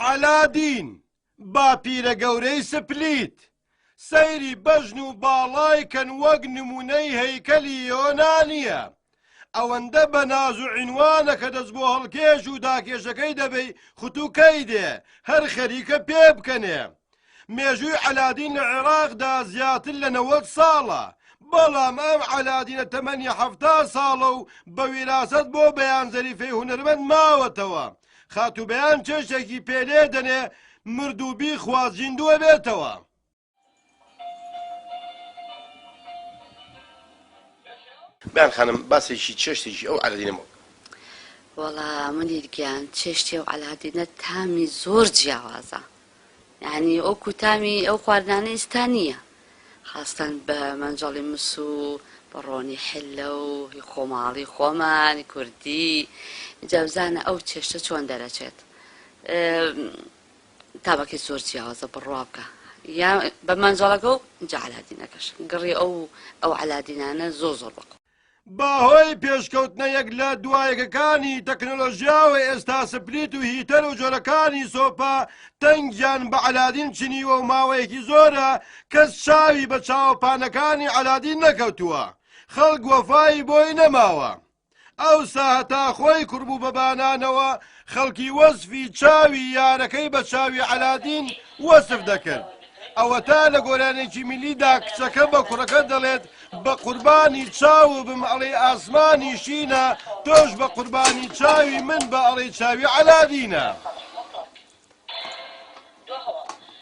عەلادین، باپیرە گەورەی سپلیت، سەیری بەژن و باڵای کەن وەک نموونەی هەیکەلی یۆنانییە، ئەوەندە بە ناز و عینوانە کە دەست بۆ هەڵکێش و داکێشەکەی دەبەی خوتووکەی دێ، هەر خەریکە پێبکەنێ. مێژووی عەلادین لە عێراقدا زیاتر لە نەوەد ساڵە، بەڵام ئەم عەلادینە تەمەنی حەفتا ساڵە و بە ویراسەت بۆ بەیان زەریفەی هونەرمەند ماوەتەوە. خاتوو بەیان چێشتێکی پێ لێ دەنێ مرد و بیخوات زیندوو ئەبێتەوە. بەیان خانم باسێکی چێشتێکی ئەو عەلادینە مەوە. وەڵا منیر گیان چێشتی ئەو عەلادینە تامی زۆر جیاوازە. یانی وەکو تامی ئەو خواردنانە ئیستا نیە خاستەن بە مەنجەڵی مس و بەڕۆنی حلە و هی خۆماڵی خۆمان کوردی ئینجا بزانە ئەو چێشتە چۆن دەرەچێت تامەکەی زۆر جیاوازە بڕوا بکە یا بە مەنجەڵەکە و جا علادینەکەش گڕی ئەو ئەو علادینانە زۆر زۆر بەقوە. بەهۆی پێشکەوتنە یەک لە دوا یەکەکانی تەکنەلۆژیا و ئێستا سپلیت و هیتەر و جۆرەکانی سۆپا تەنگیان بە عەلادین چنیوە و ماوەیەکی زۆرە کەس چاوی بە چاوەپانەکانی عەلادین نەکەوتووە خەڵک وەفای بۆی نەماوە ئەوسا هەتا خۆی کوڕبوو بە بانانەوە خەڵکی وەسفی چاوی یارەکەی بە چاوی عەلادین وەسف دەکرد. ئەوەتا لە گۆرانێکی میللیدا کچەکە بە کوڕەکە دەڵێت، بە قوربانی چاوو بم ئەڵێی ئاسمانی شینە، تۆش بە قوربانی چاوی من بە ئەڵێی چاوی عەلادینە.